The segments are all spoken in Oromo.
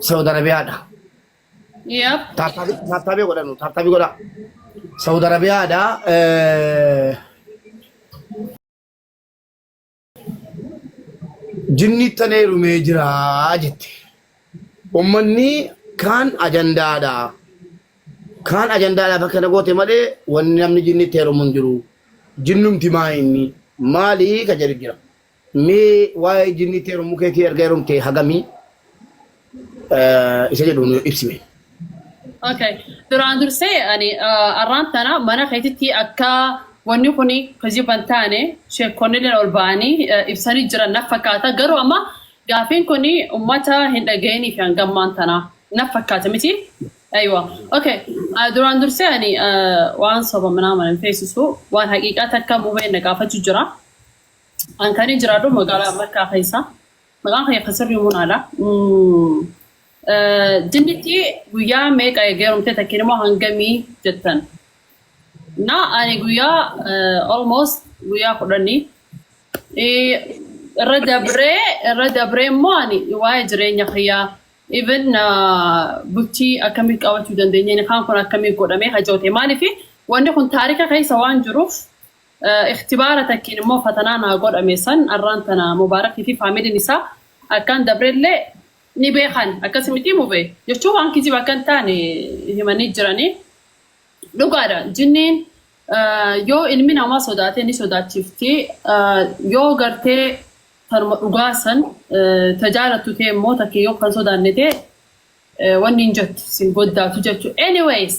Saudi Arabia dha. Yep. Taabtaabii taabtaabii godhanu taabtaabii godhaa. Saudi Arabia dha. eh, Jinni tanee rumee jira jette. Uummanni kaan ajandaadha. Kaan ajandaadhaaf akka na goote malee wanni namni jinni itti heerumu hin jiru. Jinnumti maa inni maalii ka jedhu jira. Mee waa'ee jinniitti heerumuu keetii erga heerumtee hagamii eh, isa jedhu nu ibsime. Okay. Duraan dursee ani ah, arraan tana mana keetitti akka wanni kun kijiba hin taane sheekonnillee ol ba'anii eh, ibsanii jiran naf fakkaata. Garuu amma gaafiin kun uummata hin dhaga'inii fi hangammaan tana naf fakkaata miti. Aywa. Okay. Ah, Duraan dursee ani ah, waan soba manaa mana hin feesisu waan haqiiqaa takka mubeen na gaafachuu jira. An kani jiraadhu magaalaa Makkaa keessa. Maqaan kiyya kan sirrii Munaadha. Jinnitti guyyaa meeqa eegeerumte takkiin immoo hangamii jettan. Na ani guyyaa almost guyyaa kudhanii irra dabree irra dabree immoo ani waa'ee jireenya kiyyaa even bultii akkamii qabachuu dandeenya inni kaan kun akkamii godhamee hajoote maaliif wanni kun taarika keessa waan jiruuf Ikhtibaara takkiin immoo fatanaa naa godhame san arraan tana Mubaarakii fi faamiliin isaa akkaan dabrellee ni beekan. Akkasi mitii mube? jechuun waan kijiba akka hin taane himanii jiranii. Dhugaadha jinniin yoo ilmi namaa sodaate ni sodaachifti. Yoo gartee tanuma dhugaa san ta jaalattu ta'e immoo takki yoo kan sodaanne ta'e wanni hin jettu sin goddaatu jechuudha. Anyways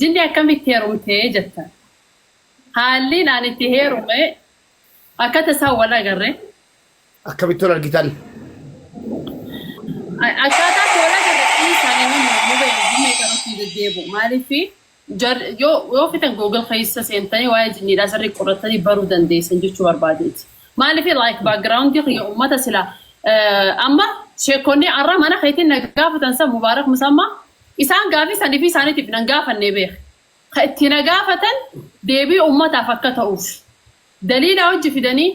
jinni akkamitti heerumte jettan? Haalliin an itti heerume akka tasaa wal agarre. Akkamitti wal argitan? Akkaataa itti wal agarre dhiisaa nama mormu ba'e jinnii qarutti hin deddeebi'u. Maaliif yoo fitan Google keessa seentanii waa'ee jinniidhaa sirrii qorattanii baruu dandeessan jechuu barbaadeeti. Maaliif like background kiyya uummata sila amma sheekonni arra mana keetiin na gaafatan san Mubaarak Musammaa isaan gaafii sanii fi isaaniitiif nan gaafannee beeka. ka itti na gaafatan deebii ummataaf akka ta'uuf daliila wajji fidanii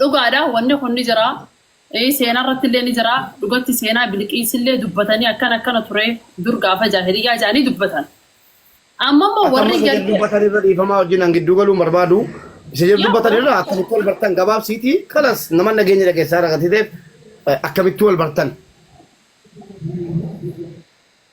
dhugaadha wanni kun ni jira seenaa irratti illee ni jira dhugatti seenaa biliqiis illee dubbatanii akkana akkana ture dur gaafa jaahiliyyaa jedhanii dubbatan amma immoo Akka amma warri isa jedhu gartee dubbatan irra dhiifamaa wajjin an gidduu galuun barbaadu. Isa jedhu yoo dubbatan irra akkamitti wal bartan gabaabsiitii kalas nama nageenya dhageessaa irra gatiteef akkamitti wal bartan.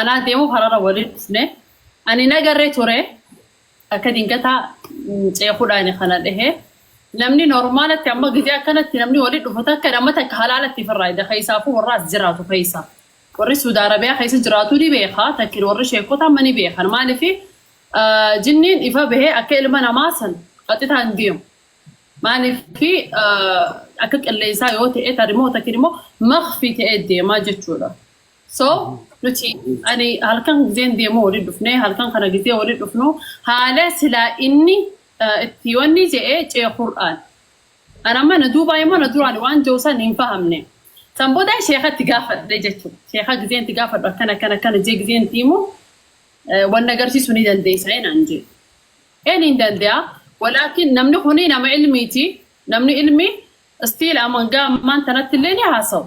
Anaa deemuuf harara waliin dhufne. Ani nagarree ture akka dingataa ceekudhaani kana dhehe. Namni normaalatti amma gizee akkanatti namni waliin dhufu takka nama takka halaalatti firraa ida keessaafuu warra as jiraatu keessa. Warri Suudi Arabiyaa keessa jiraatu ni beeka takkin warri sheekota amma ni beekan maaliif jinniin ifa bahee akka ilma namaa san qaxitaa hin deemu. Maaliif akka qilleensaa yoo ta'e tarimoo takkin immoo makfi ta'ee deemaa jechuudha. So nuti ani halkan gizeen deemuu waliin dhufne halkan kana gizee waliin dhufnu haala silaa inni eh, itti yoonni je'ee cee Qur'aan. Ana amma na duubaa immoo na duraan waan je'u san hin fahamne. San booda sheekatti gaafadhe jechuudha. Sheeka gizeen itti gaafadhu akkana akkana akkana jee gizeen itti himu eh, wanna agarsiisu ni dandeessa inaan jee. Een hin danda'a. Walaakin namni kuni nama ilmiiti. Namni ilmi stiil amangaa ammaan tanatti illee ni haasawu.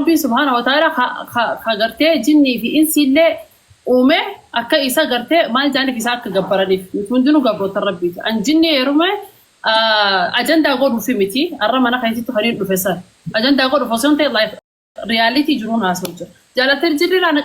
Rabbiin subhaana wa ta'ala ka, ka, ka gartee jinnii fi insii illee uume akka isa gartee maal jaaniif isaa akka gabbaraniif nuti hundinuu gabroota rabbiiti an jinnii heerume ajandaa godhuufi miti arra mana keessatti kan hin dhufe san ajandaa godhuuf osoo hin ta'e life realitii jiruun haasoo jira jaalatir jirri laana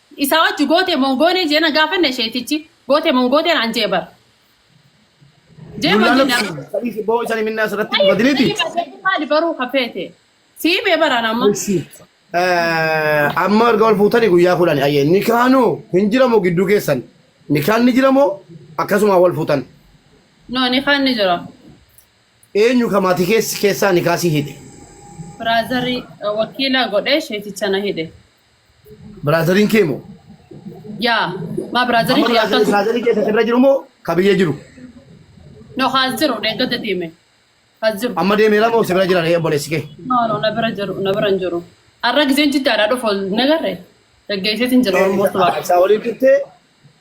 Isaa wajji gootee moo hin goonee jee na gaafanne sheetichi. Gootee moo hin gootee naan jee bar. Jee Dullaa wajjin lakki dha. sadii si boo isani minnaa sirratti Ayi badiniti. ayi badee maali baruu kafeete. Sii mee baraan amma. Missi. Amma erga wal fuutani guyyaa kudhani ayyee nikaanu hin jiramoo gidduu keessan nikaan ni jiramoo akkasuma wal fuutan No ni kaan ni jira. eenyu ka maatii keessi keessaa nikaasii hidhe. Biraazarri wakiila godhee sheeticha na hidhe. Biraazariin kee moo? Yaa maa biraazariin kee akkas. Biraazariin kee irra jiru moo ka biyya jiru? No kaas jiru deeggadda deeme. Kaas jiru. Amma deemeera moo si bira jira ree obboleessi kee? No no na bira jiru na bira hin jiru. Har'a giseen jiddaadhaa dhufu nagarre. Gaggeesseetiin jira Oromoo tubaadha. Isaa waliin turtee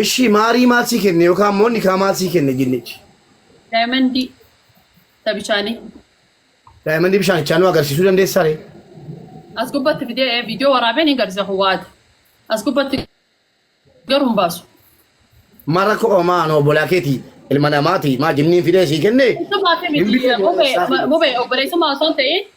Eshii maarii maal sii kenne yookaan immoo nikaa maal sii kenne jinnichi? Daayimandii tabichaanii. Daayimandii bishaanichaa nu agarsiisuu dandeessaa ree? As gubbatti fidee ee viidiyoo waraabee ni garsiisa kun waate. As gubbatti garuu hin baasu. Mara ko omaa no bolaa keeti ilma namaati maa jinniin fidee sii kenne Isuma fi hin miti bidee mubee boorsaa fi mubee obboleessummaa osoo hin ta'in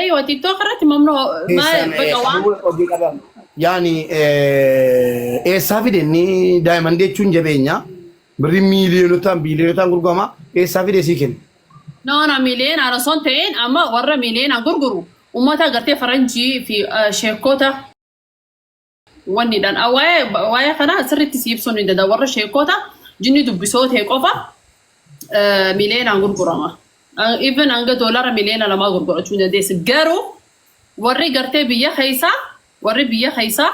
Eeyoo tiktok irratti mamnoo maal Eessaan baqa eessa? waan Duwwaa hojii qabaa. Yaani eh, eessaa fide inni daayimandii jechuun jabeenya birri miiliyonotaan biiliyonotaan gurgurama eessaa fide sii kenna. noona miiliyoon ana son ta'een amma warra miiliyoon gurguru uummata agartee faranjii fi eh, sheekota Wanni dhan a- waa'ee waa'ee kanaa sirriitti si ibsuun ni danda'a. Warra sheekota jinni dubbisoo ta'e qofa eh, miliyoonaan gurgurama. Eh, Even hanga doolaara miliyoona lamaa gurgurachuu ni dandeessi. Garuu warri gartee biyya keessaa warri biyya keessaa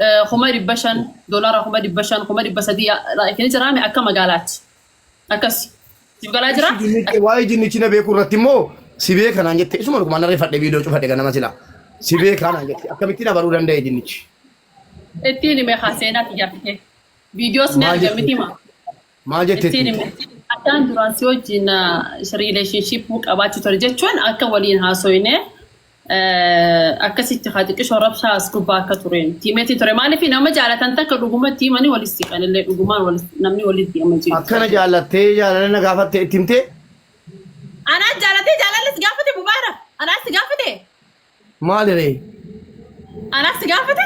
eh, kuma dhibba shan doolaara kuma dhibba shan kuma dhibba sadii eh, like ni jiraame akka magaalaatti. Akkas. Siif galaa jira? Ishi jinnichi waa'ee jinnichi na beekuu irratti immoo si beeka naan jette isuma dhuguma narree fadhe viidiyoo cufadhe ganama silaa si beekaa naan jette akkamittiin abaruu danda'e jinnichi Ittiin hime haa seenaa xiyyaafite. Viidiyoos ni Maal arga jechuudha? miti maa. maal jette Ittiin hime. Addaan duraan si wajjin riileeshinshiippuu qabaachuu ture jechuun akka waliin haasoyne akkasitti haa xiqqisho rabshaa as gubbaa akka tureen tiimeetii ture maaliif nama jaalatan takka dhugumatti himanii walitti siqan illee dhugumaan walis- namni walitti amma jiru. Akkana jaallattee jaalala na gaafatte itti himtee Anaa jaalatee jaalalli si gaafate mubaara anaa si gaafate maali ree? anaa si gaafate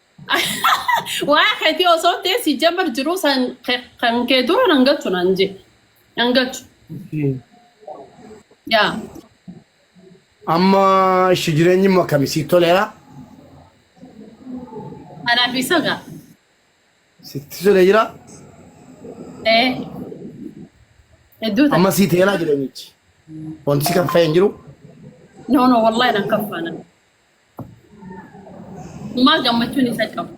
Waa keetii osoo ta'e si jammar jiru san ke- kan kee dura nan galchu nan je. Nan galchu. Yaa. Amma ishi jireenyi immoo akkami siif toleera? Anaaf isa gaa. Sitti tolee jira? Ee. Hedduu ta'a. Amma sii teelaa jireenyichi. Wanti si kan fayyee hin jiru? No no wallahi nan kaffaana. Dhumaa gammachuun isa qabu.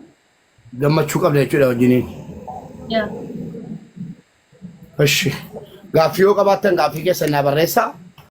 Gammachuu qabda jechuudha wajjiniin. Yaa. Ishi. Gaaffii yoo qabaattan gaaffii keessan naa barreessaa.